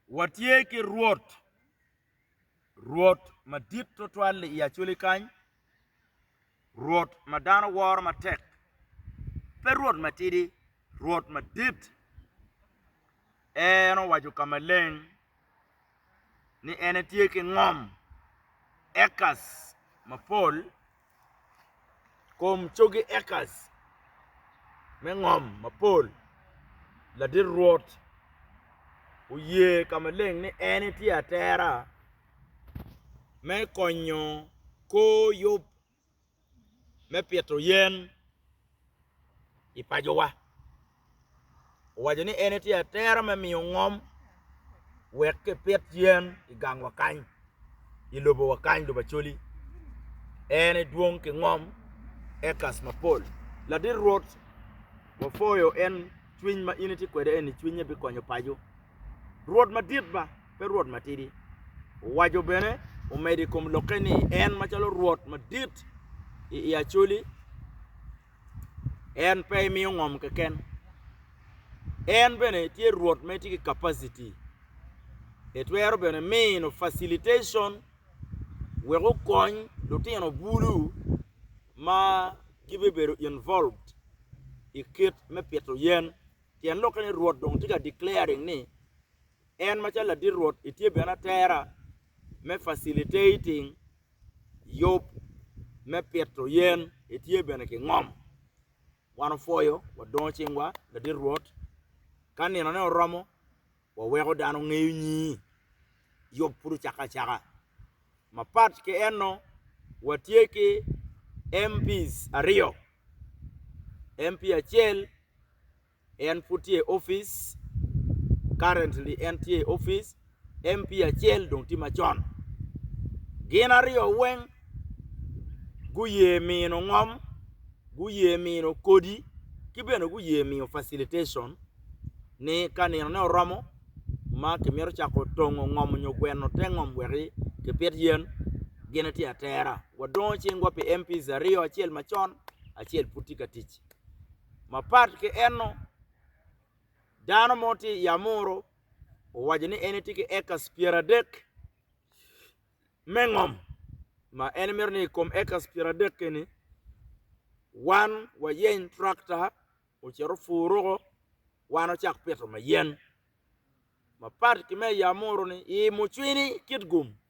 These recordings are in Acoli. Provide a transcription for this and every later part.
Watye ki Rwot, Rwot madit twatwal-li i Acoli kany, Rwot ma dano woro matek, pe Rwot matidi, Rwot madit. En owaco ka maleng ni en etye ki ngom, acres, mapol kom cogi acres me ngom mapol. Ladit Rwot oye ka maleng ni en etye atera me konyo kor yub me pito yen i pacowa. Owaco ni en etye atera me miyo ngom wek kipit yen i gang wa kany, i lobo wa kany, lobo Acholi. En edwong ki ngom ekas mapol. Ladit Rwot, wapwoyo en cwiny ma in itye kwede eni, cwinye bikonyo paco. Rwot madit ba, pe Rwot matidi. Owaco bene, omedo i kom lokke ni, en macalo Rwot madit i Acholi, En pe emiyo ngom keken. En bene tye Rwot ma itye ki capacity. Itwero bene mino facilitation wek okony lutino bulu ma gibibedo involved i kit me pito yen. Tyen lokke ni Rwot dong tye ka declaring ni En macalo ladit Rwot itye bene atera me facilitating yub me pito yen, itye bene ki ngom. Wan opwoyo, wadongo cingwa, ladit Rwot. Ka ninone oromo, waweko dano ngeyo nyingi. Yub pud ocakke acaka. Mapat ki eno, watye ki MPs aryo. MP acel en pud tye i opic currently en tye i opic MP acel dong tye macon gin aryo weng guye mino ngom guye mino kodi ki bene guye miyo facilitation ni ka nino ne oromo ma kimito cako tongo ngom nyo gweno te ngom wek kipit yen gin etye atera wadongo cingwa pi MPs aryo acel macon acel pud tye ka tic. Mapat ki enno, dano mo tye i amuru owaco ni en etye ki acres pyeradek me ngom ma en mito ni i kom acres pyeradek eni wan wayeny tractor ocit opur ruko wan wacak pito mayen mapat ki me i amuru-ni i mucwini Kitgum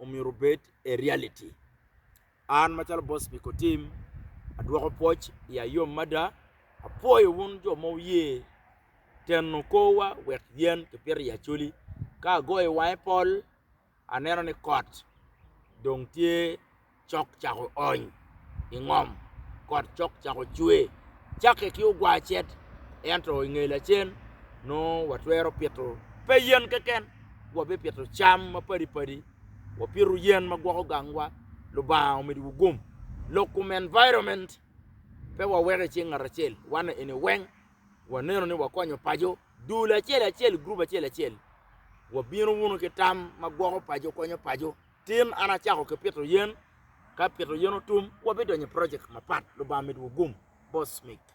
omyero obed a reality. An macalo bot Spiko Tim, adwoko pwoc i ayom mada. Apwoyo wun jo ma wuye teno korwa wek yen kipito i Acholi. Ka agoyo wanga i pol, aneno ni kot dong tye cok cako ony i ngom, kot cok cako cwe. Cakke ki ogwar cet, ento i nge lacen nongo watwero pito pe yen keken, wabipito cam mapadi padi, wapito yen ma gwoko gangwa. Lubanga omidiwu gum. Lok kom environment pe waweko i cing ngat acel, wan eni weng waneno ni wakonyo paco dul acel acel, group acel acel. Wabino wunu ki tam ma gwoko paco, konyo paco. Tin an acako ki pito yen, ka pito yen otum, wabidonyo i project mapat. Lubanga med wugum. Boss Smith.